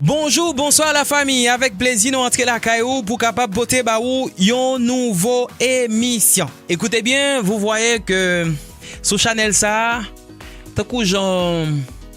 Bonjou, bonswa la fami, avèk plezi nou antre lakay ou pou kapab pote ba ou yon nouvo emisyon. Ekoute byen, vou vwaye ke sou chanèl sa, tankou jan...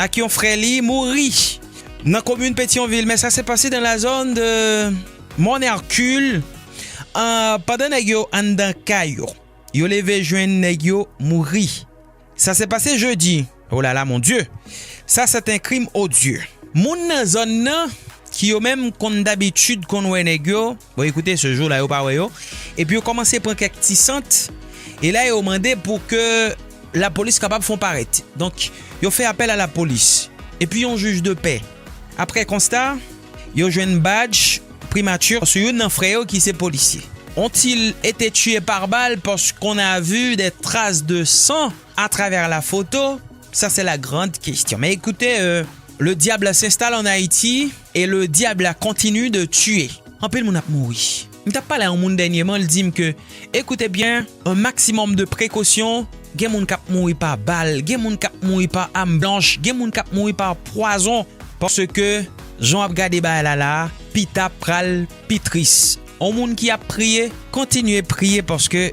ak yon frè li mouri nan komin Petyonvil men sa se pase dan la zòn de Mòn Erkil pandan nèg yo anndan kay yo. Yo leve jwenn nèg yo mouri. Sa se pase jedi. O lala mon Dye! Sa sèt en krim odye. Moun nan zòn nan ki yo menm konn dabitid konn wè nèg yo. Bon ekoute se jou la yo pa wè yo epi yo kòmanse pran kèk ti sant e la yo mande pou ke lapolis kapab fon parèt. Donk yo fè apèl a lapolis epi yon jij de pè aprè konsta yo jwenn badj primati sou youn nan frè yo ki se polisye. Ont-il ete tiye par bal paske on a vu dè tras de san a travè la foto? Sa se la grand kestyon. Men ekoute le diable s'installe en Haiti. Et le diable la continue de tuer. Anpil moun ap mouri. M tap pale a yon moun dènyeman l dim ke écoutez bien un maximum de prekosyon gen moun kap mouri pa bal, gen moun kap mouri pa am blanch, gen moun kap mouri pa pwazon paske jan w ap gade bagay la la a pita pral pi tris. On moun ki ap priye kontinye priye paske.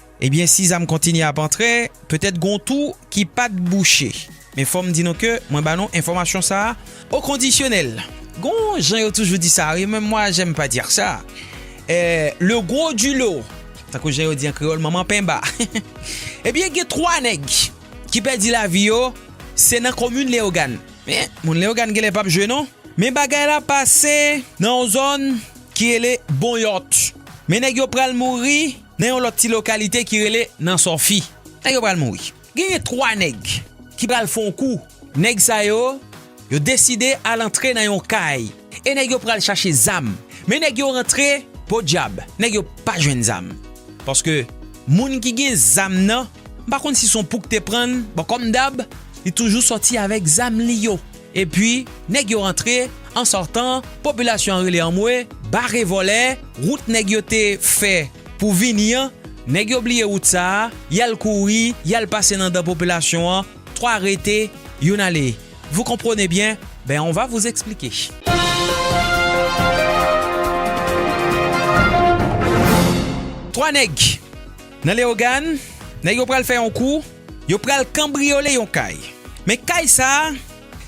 Ebyen si zam kontinye ap antre, petèt gon tou ki pat bouche. Men fòm di nou ke mwen ba nou enfòmasyon sa a o kondisyonèl. Gon jan yo toujou di sa wi, men mwa jèm pa dire sa. Le gros du lot, tankou jan yo di an kreyòl manman penba. Ebyen gen 3 nèg ki pèdi lavi yo, se nan komin Leyogàn. Men moun Leyogàn genlè pap jwe non. Men bagay la pase nan yon zòn ki rele Bonyòt. Men nèg yo pral mouri. nan yon lòt ti lokalite ki rele nan sòfi. Nèg yo pral mouri. Genyen 3 nèg ki pral fon kou. Nèg sa yo, yo deside al antre nan yon kay. E nèg yo pral chache zam. Men nèg yo rantre, podyab, nèg yo pa jwenn zam. Paske moun ki gen zam nan, m pa konn si son pouk te prann, bon kòm dab, li toujou sòti avèk zam li yo. Epi nèg yo rantre, an sòtan, popilasyon an rele anmwe, bare vòlè, wout nèg yo te fè pou vini an, nèg yo bliye wout sa a, y al kouri, y al pase nan dan popilasyon an, 3 rete, youn ale. Vous comprenez bien? Ben on va vous expliquer. Twa nèg nan Leyogàn, nèg yo pral fè yon kou. Yo pral kanbriyole yon kay. Men kay sa a,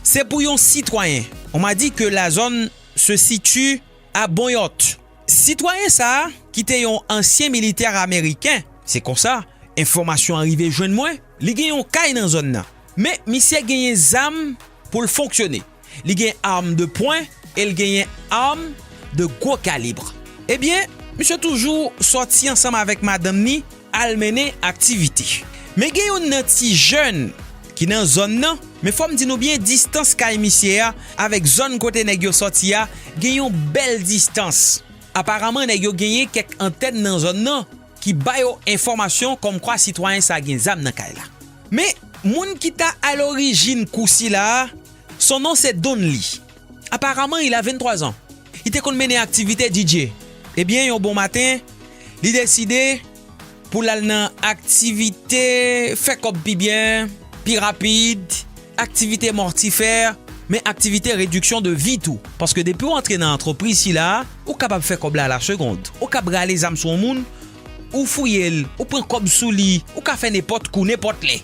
se pou yon sitwayen. On m'a dit que la zone se situe à Bonyòt. Sitwayen sa a, ki te yon ansyen militè ameriken, se konsa enfòmasyon an rive jwenn mwen, li gen yon kay nan zòn nan. Men misye genyen zam pou l fonksyone. Li gen arm de pwen e l genyen arm de gwo kalibre. Ebyen, misye toujou sòti ansanm avèk madanm ni al mennen aktivite. Men gen youn nan ti jèn ki nan zòn nan, men fò m di nou byen distans kay misye a avèk zòn kote nèg yo sòti a gen yon bèl distans. Aparaman nèg yo genyen kèk antèn nan zòn nan. ki ba yo enfòmasyon kòmkwa sitwayen sa gen zam nan kay la. Men, moun ki ta alorijin kou sila a, son nom c'est Donly. Apparemment, il a 23 zan. Li te konn mennen aktivite DJ. Ebyen, yon bon maten, li deside pou l al nan aktivite fè kòb pi byen, pi rapid. aktivite mòtifè, men aktivite rediksyon de vi tou. Paske depi ou antre nan antrepriz sila a, ou kapab fè kòb la a la segond. Ou kab rale zam sou yon moun, ou fouye l, ou pran kòb sou li, ou ka fè nenpòt kou, nenpòt lè.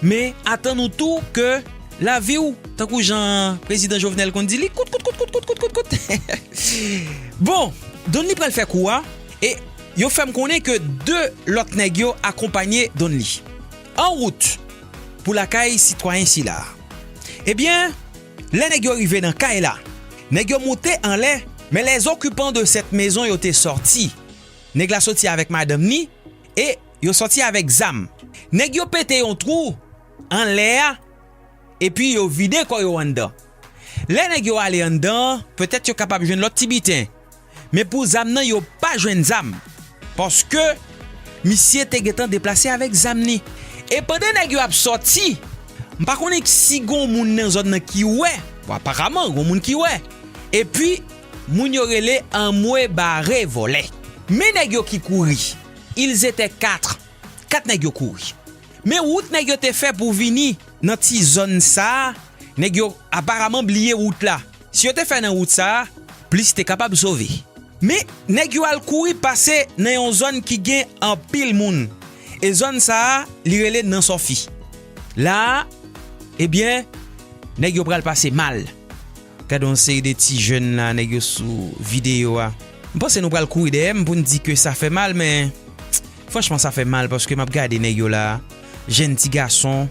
Men, atann ou tou ke lavi ou, tankou jan Prezidan Jovenel konn di, li kout kout kout kout kout kout kout kout. Bon, Donly pral fè kou a, e yo fè m konnen ke 2 lòt nèg yo akonpanye Donly. Anwout! pou lakay sitwayen sila. Ebyen, lè nèg yo rive nan kay la, nèg yo moute anlè, men les occupants de cette maison yo te sòti. Nèg la sòti avèk madanm ni e yo sòti avèk zam. Nèg yo pete yon twou anlè a epi yo vide kò yo anndan. Lè nèg yo ale anndan, petèt yo kapab jwenn lòt ti biten Men pou zam nan yo pa jwenn zam paske misye te gentan deplase avèk zam ni. E pandan nèg yo ap sòti, m pa konnen si gon moun nan zòn nan ki wè, bon aparaman gon moun ki wè. Epi moun yo rele anmwe bare vòlè. Men nèg yo ki kouri. Ils étaient quatre, kat nèg yo kouri. Men wout nèg yo te fè pou vini nan ti zòn sa, nèg yo aparaman bliye wout la. Si yo te fè nan wout sa a, plis te kapab sove. Men, nèg yo al kouri pase nan yon zòn ki gen anpil moun, e zòn sa a li rele Nan Sòfi. La a, ebyen, nèg yo pral pase mal. Gade yon seri de ti jèn la, nèg yo sou videyo a. M panse nou pral kouri dèyè m pou n di ke sa fè mal, men, franchman sa fè mal paske m ap gade nèg yo la a, jèn ti gason,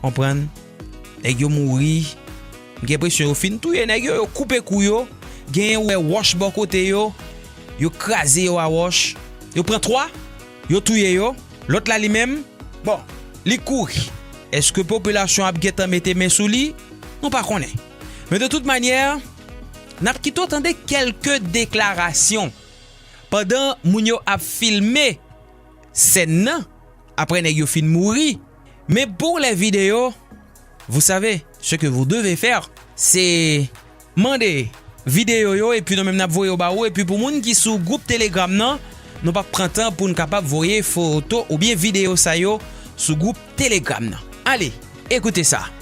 konprann. Nèg yo mouri, m gen presyon yo fin touye nèg yo, yo koupe kou yo, genyen wè wòch bò kote yo, yo kraze yo a wòch, yo pran 3, yo touye yo, lòt la li menm, bon, li kouri. Èske popilasyon ap gentan mete men sou li? Nou pa konnen. Men de tout manyè, n ap kito tande kèlke deklarasyon pandan moun yo ap filme sèn nan, aprè nèg yo fin mouri. Mais pour les videos vous savez ce que vous devez faire se mande videyo yo epi nou menm nap voye yo ba ou epi pou moun ki sou group telegram nan nou pap pran tan poun kapab voye foto oubyen videyo sa yo sou group telegram nan ale ekoute sa.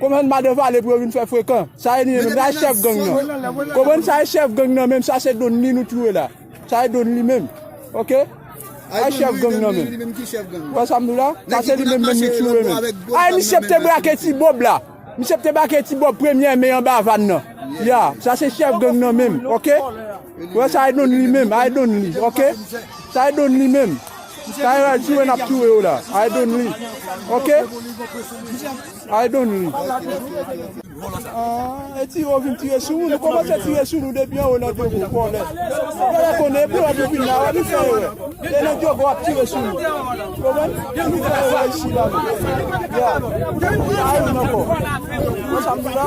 Konbyen n madan vale pou yo vin fè frekan. Sa e li menm la chèf gang nan. Konbyen sa e chèf gang nan menm sa se don li nou t loue la. Sa e don li menm. Ok. Sa e chèf gang nan menm. Ou wè sa m di w la. Sa se li menm menm nou t loue menm. A e misye te brake ti bob la. Misye te brake ti bob premyè me anba van nan. Ya. Sa se chèf gang nan menm. Ok. Wè sa I don li menm I don li ok sa I don li menm sa yo al ture nap ture yo la I don li ok I don li ahh eti yo vin tire sou nou nou komanse tire sou nou depi anwo nan djogo vòlè vòlè konnen epi wap vin la wap vin fè erè e nan djogo wap tire sou nou ou konprann nou vin fè erè isi la menm yeah sa yo menm ankò konn sa m di la.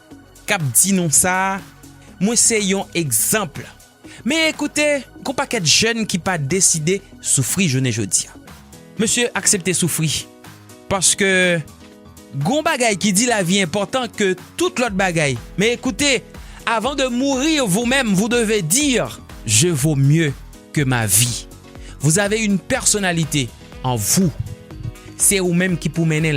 kap di nou sa mwen se yon egzanp men ekoute gon pakèt jèn ki pa deside soufri jounen jodia mesye aksepte soufri paske gon bagay ki di lavi enpòtan ke tout lòt bagay men ekoute avan de mourir vous meme vous deve dire je vo mye ke ma vi vous ave yn pèsonalite an vous se ou menm ki pou mennen.